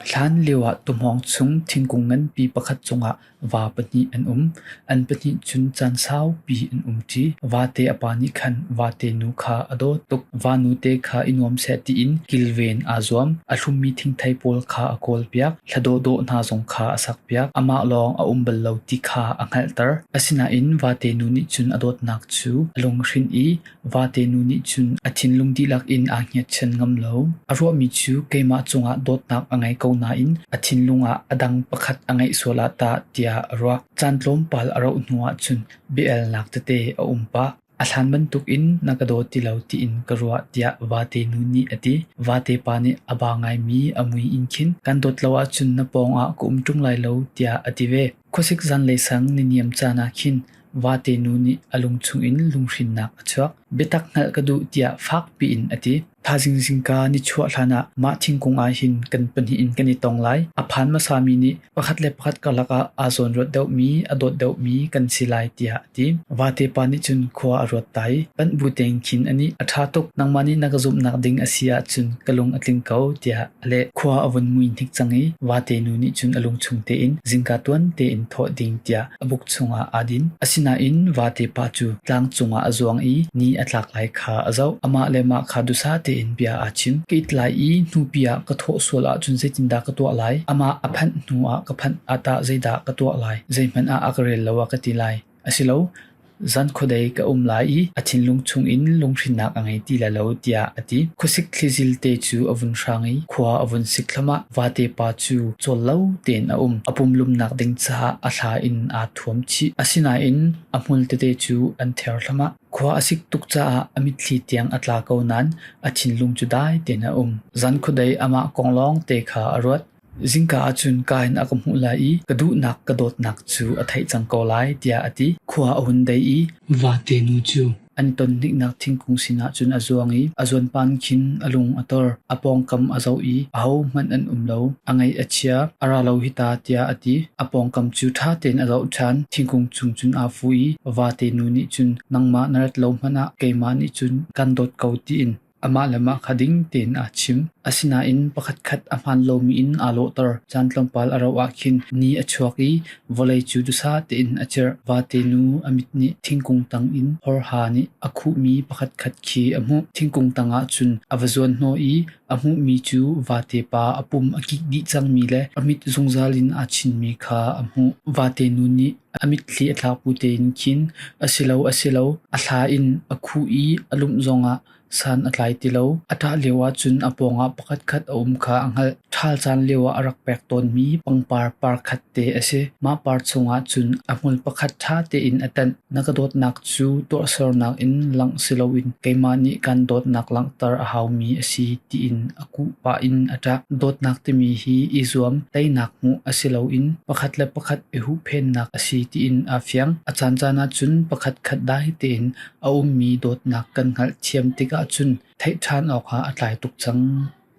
Hlanlio ah tuhmawng chung thingkung nganpi pakhat cungah va pahnih an um. An pahnih cun caan saupi an um ṭi. Vate a pa nih khan vate nu kha a dawt tuk. Vanu te kha i nuam seh tiin kilven aa zuam. A hlummi thingthei pawl kha a kawlpiak. Thla dawhdawh hna zong kha a sakpiak. Amah lawng a um bal lo ti kha a hngalhter. Asinain vate nu nih cun a dawtnak cu a lunghrinh i Vate nu nih cun a thinlung dihlak in aa hngiatchan ngam lo. A ruahmi cu keimah cungah dawtnak a ngei ko nain a thinlung ah a dang pakhat a ngeih sual ah tah tiah a ruak. Caan tlawmpal a rauh hnuah cun biaelnak tete a um pah. A hlan bantukin na ka daw ti lo tiin ka ruah tiah vate nu nih a ti. Vatepa nih a ba ngaimi a mui in khin kan dawt lo ahcun na pawngah ka um ṭung lai lo tiah a ti ve. Khuasik zanlei sang ni niam caan ah khin vate nu nih a lung chungin lunghrinnak a chuak. Biatak hngalh ka duh tiah fak piin a ti. Thazing zingka ni chuah hlanah mah thingkung ah hin kan pahnih in kan i tong lai. A phan hmasami nih pakhat le pakhat karlak ah aa zawn ruat deuhmi, a dawt deuhmi kan si lai tiah Vatepa nih cun khua a ruat ta i panh bu tein khin a nih a ṭha tuk nangmah nih na ka zumhnak ding a si ahcun ka lung a tling ko tiah a leh. Khua a vun mui hnik cang i vate nu nih cun a lungchung tein zingka tuan tein thawh ding tiah a buk chungah aa din. Asinain vatepa cu tlang cungah a zuang i ni a tlak lai kha a zoh. Amah le mah kha dusa tein bia aa chin. Ka it lai i hnupi ah ka thawh sual ahcun zeitindah ka tuah lai? Amah a phanh hnuah ka phanh ah tah zeidah ka tuah lai? Zeihmanh ah a ka rel lo a ka ti lai. A si lo, zan khuadei ka um lai i a thinlung chungin lunghrinnak a ngei ti le lo tiah a ti. Khuasik thlizil te cu a vun hrang i khua a vun sik thluamah vate pa cu cawl lo tein a um. A pumlumnak ding caah a thla in aa thuam chih. Asinain a hmul tete cu an ther thluamah. Khua a sik tuk caah a mitthli tiang a tla ko nain a thinlung cu dai tein a um. Zan khuadei amah kong lawng te kha a ruat. Zingka ah cun ka in a ka hmuh lai i ka duhnak ka dawtnak cu a theih cang ko lai, tiah a ti. Khua a hun dei i vate nu cu an tonniknak thingkung sinah cun a zuang i a zuanpan khin a lung a tor. A pawngkam a zoh i ahohmanh an um lo. A ngaih a chia, a ra lo hi ta, tiah a ti. A pawngkam cu ṭha tein a zoh ṭhan. Thingkung chung cun aa fu i vate nu nih cun nangmah na rat lo hmanh ah keimah nih cun kan dawt ko tiin Amah le mah kha ding tein aa chim. Asinain pakhatkhat a hmaan lomi in aa lawhter. Caan tlawmpal a rauh ahkhin ni a chuak i vawlei cu duhsah tein a cirh. Vate nu a mit nih thingkung tang in hawrha nih a khuhmi pakhatkhat khi a hmuh. Thingkung tangah cun a va zuanhnawh i a hmuhmi cu vate pa a pum a kik dih cangmi le a mit zungzal in aa chinmi kha a hmuh. Vate nu nih A mitthli a thlakpu tein khin asilo asilo a thla in a khuh i a lumh zongah san a tlai ti lo. A ṭah lioah cun a pawngah pakhatkhat a um kha a hngalh. Ṭhal caan lioah a rak pek tawnmi pangpar parkhat te a si. Mah par chungah cun a hmul pakhat ṭha tein a tanh. Na ka dawtnak cu tuahsernak in langh si loin keimah nih kaan dawtnak langhter a haumi a si tiin a Kuh pah in a ṭah. Dawtnak timi hi i zuam, teinak hmuh asiloin pakhat le pakhat i huhphennak a si tiin aa fiang. A caancaan ahcun pakhatkhat dah tein a ummi dawtnak kan hngalhthiam tikah cun theih ṭhan awkah a tlai tuk cang.